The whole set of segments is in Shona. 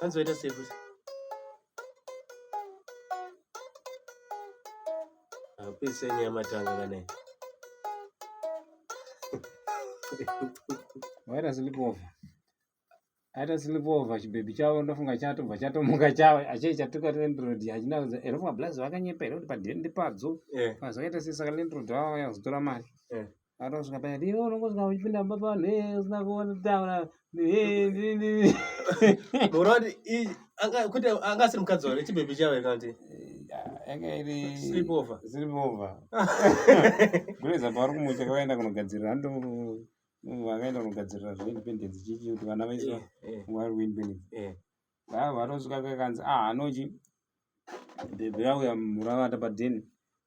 Hanzi waita sei futi? Apise ah, nyama tanga kana. Waita sleepover. Aita sleepover chibebi chavo ndofunga chatobva chatomuka chavo achei chatuka landlord hachina kuza ero mablazi vakanyepa here kuti padhende padzo. Eh. Mazoita sei saka landlord vavo vazotora mari. Eh. Anosvika paya kuti iwe unongosvika uchipinda mumba pavanhu ee usina kutaura Bora kuti anga kuti anga asiri mukadzi wake chibebe chavo kana kuti yanga iri sleep over sleep over kureza pavari kumusha kavaenda kunogadzirira hando vakaenda kunogadzirira zveindependence chichi kuti vana vaiswa vari kuindependence aa vanosvika kakanzi ah anochi bebe vauya muravata padheni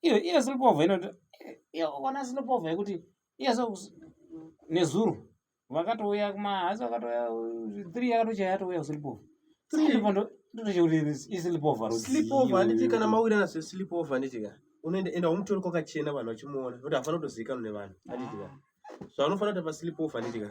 iyo iyo zinopovha inoti iyo ona zinopovha yekuti iya so nezuro vakatouya kumahasi vakatouya three yakatochaya yatouya kusilipovha kana mawirana sesilipovha nditika unoenda umutori kwakachena vanhu vachimuona nokuti hafana kutozivikanwa nevanhu anditika ah. zvaunofana kuti pasilipovha nditika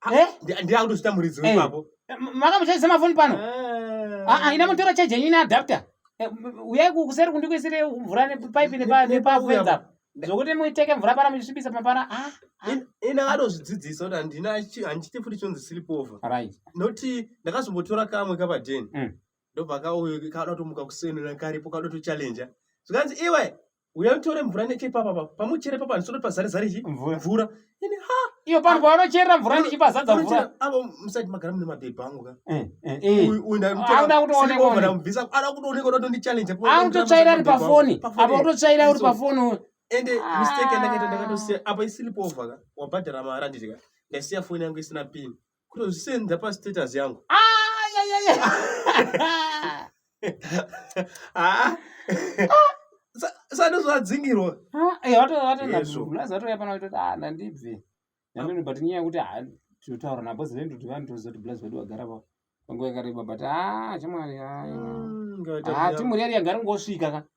Ah, eh? Ndiye akutozvita muridzi eh. wepapo. Eh, Makamuchaisa mafoni pano. Ah, ina mutora charge yenyu ine adapter. Uyai kuseri kundikuisire mvura nepipe nepafenza apo. Zvokuti muiteke mvura pana muchisvibisa mapana. Ah, ah. Ina vanozvidzidzisa kuti handina handichiti futi chonzi sleep over. Right. Noti ndakazombotora kamwe kapadeni. Mm. Ndobva kauyo kada kutomuka kuseni nakaripo kada kutochallenger. Zvikanzi iwe uya utore mvura nechepapa papa pamuchere papa ndisoti pazare zare chi Mvura. mvura ini ha iyo pano pavanocherera mvura ndichipazadza mvura Unochera- avo musati magara mune mabhebhi angu ka Eh, eh, eh. Uyu- uyu ndamutora- Anoda kutoonekwa siri over, uyu. ndamubvisa anoda kutoonekwa kuti ndondichallenge apo Ah, unototsvaira ari Mabhebhi angu. pafoni Pafoni. apa unototsvaira uri So, pafoni uyu. ende Ah. mistake yandakaita ndakatosiya apa isilipover ka wabhadhara mari anditi ka ndaisiya foni yangu isina pin Kutozvisenda pa status yangu. Ah, ya ya ya. Ah. Sano zvadzingirwa. Ah, eh wato wato na bhuku. Lazwa to yapana kuti ah ndandibve. Ndandino but nyaya kuti ah tutaura na boss vendu tivani tozoti blaz vedu wagara pa. Panguva yakareba but ah chimwari ah. Ngati. Ah timuri yari yagara ngosvika ka.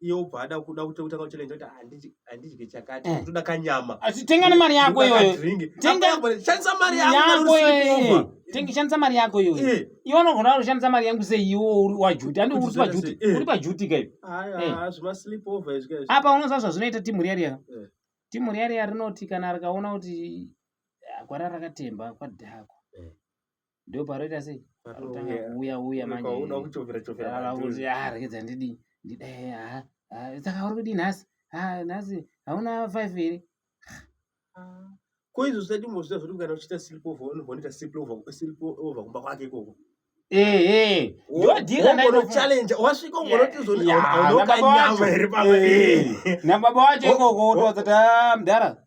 iye obva ada kuda kutanga kuchallenge kuti handidye chakati eh. ndoda kanyama tenga nemari yako iyoyo shandisa mari yako iyoyo shandisa mari yako iyoyo eh. iwe unogona kushandisa mari yangu sei iwe uri wajuti andi uri pajuti eh. uri pajuti kai apa unoziva zvazvinoita timu riya riya timu riya riya rinoti kana rikaona kuti gwara rakatemba kwadhako Ndio paroita sei? Parotanga uya uya manje. Kwa uda kuchovera chovera. Ala kuti ah rekeza ndidi. Ndidi eh ah. Ah saka uri kudi nhasi. Ah nhasi hauna 5 here? Ah. Ko izvo zvisati mozvita zviri kana uchita sleep over unogonita sleep over sleep over kumba kwake ikoko. Eh eh. Ndodira na ino challenge. Wasvika ungoroti zoni hauna kanyama here pamwe. Na baba wacho ikoko wotodza ta mdara.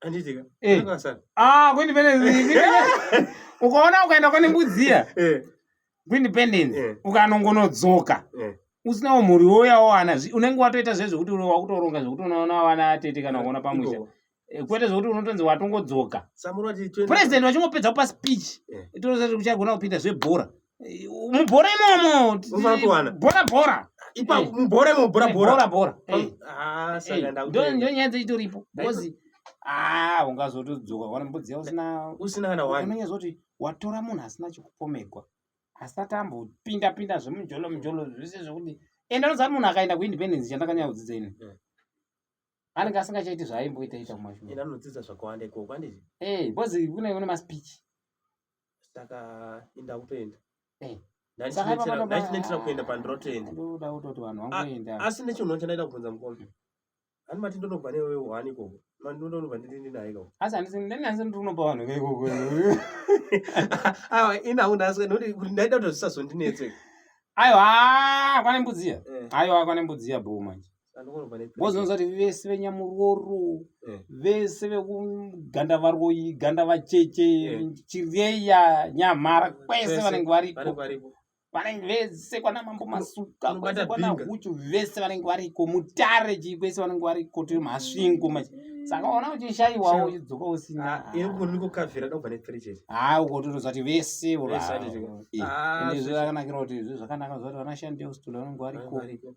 Anditika. Eh. Ah, ku independence. Ukaona ukaenda kune mbudziya. Eh. Ku independence. Eh. Ukanongonodzoka. Eh. Usina umhuri woya wana unenge watoita zvezvo kuti uri wakutoronga zvekuti unoona wana tete kana kuona pamusha. Eh, kwete zvekuti unotonzi watongodzoka. President wachingopedza kupa speech. Eh. Itoro zati uchagona kupinda zvebhora. mubhora imomo usakuwana bhora bhora ipa eh. mubhora imomo bhora eh, bhora bhora bhora eh. ah saka ndakuti ndo nyaya dzaitoripo because ah ungazotodzoka wana mbudzi yako usina usina kana wani unenge zoti watora munhu asina chikupomegwa asati ambopinda pinda zvemujolo mujolo zvese zvekuti ende anoziva munhu akaenda kuindependence chandakanyaya kudzidza ini anenge asingachaiti zvaimboita ita kumashure anodzidza zvakawanda ikoko andii bcause kune kune maspeech saka inda kutoenda eh. ndaichinetera kuenda pandirotoenda asi nechinono chandaida kubvunza mukombe ani mati ndonobva newe wani ikoko mandinonobva ndiri ndinaye ikoko asi handisi ndinanzi ndiri kunopa vanhu veikoko aiwa inawo ndasika nekuti kuti ndaida kuti zvisazondinetse aiwa kwane mbudziya eh. aiwa kwane mbudziya bhoo manje vozonzwa kuti vese venyamurooro eh. vese vekuganda varoyi ganda vacheche eh. chireya nyamhara kwese vanenge variko vanenge vese kwana mambo masuka kwese kwana huchu vese vanenge variko mutare chii kwese vanenge variko tiri masvingo machi saka ona uchishaiwawo uchidzoka usina ah, ah, ukototoza kuti vese ah, zvakanakira kuti zvakanaka zvakanashandeustola vanenge variko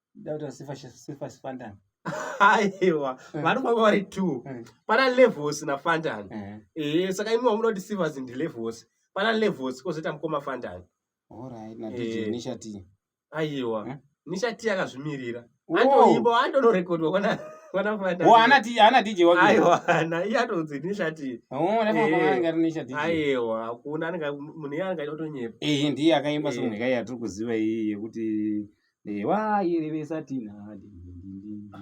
aiwa eh. vanofamba vari two eh. pana levels nafantan eh. ee saka imi vamunoti sivers ndi levels pana levels kozoita mukoma fantan aiwa nishati akazvimirira andoimbo andonorekodwa kwana ana dj wakeaiwana iye atonzi nishati aiwa hakuna munhu iye anenge aitotonyepa ndiye akaimba somwe kai yatiri kuziva iyi yekuti ewa irevesa tinadi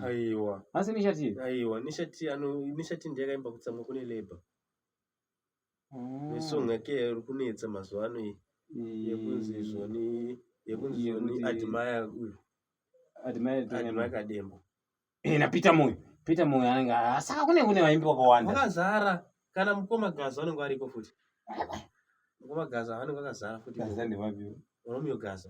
aiwa asi nishati aiwa nishati ano nishati ndiye akaimba kutsamwa kune labor ah. nesong yake iri kunetsa mazuva ano iyi yekunzi zvoni yekunzi zvoni admire uyu admire admire kadembo eh na peter moyo peter moyo anenge asaka kune kune vaimbi vakawanda vakazara kana mukoma gaza anenge ariko futi mukoma gaza anenge akazara futi gaza ndevapi romeo gaza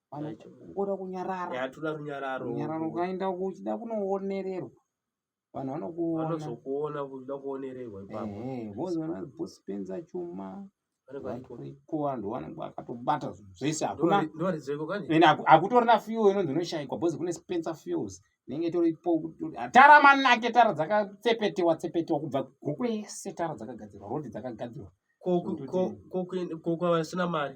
kuda kunyarara yatoda runyararo runyararo ukaenda kuchida kunoonererwa vanhu vanokuona vanozokuona kuda kuonererwa ipapo bozi vana bosi penza chuma variko vanhu vanenge vakatobata zvinhu zvese hakuna hakutorina fuel inonzi inoshaikwa bozi kune spencer fuels inenge itoripo tara manake tara dzakatsepetewa tsepetewa kubva guku yese tara dzakagadzirwa rodi dzakagadzirwa ko kwavasina mari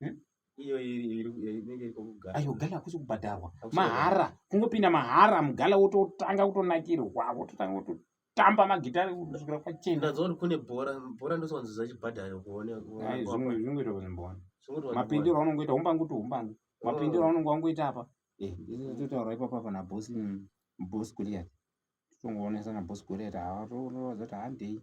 hmm? ayo gala hakusi kubhadharwa mahara kungopinda mahara mugala wototanga kutonakirwa wototanga kuto tamba magitare kusvikira kwachena ndazoona kune bhora bhora ndosonzi zachibhadhara kuone zvimwe zvimwe zvimwe mbona mapindiro aunongoita umbangu to umbangu oh. mapindiro aunongo wangoita apa eh totaura ipapo apa na boss boss Goliath tongoonesa na boss Goliath hawa toona zati handei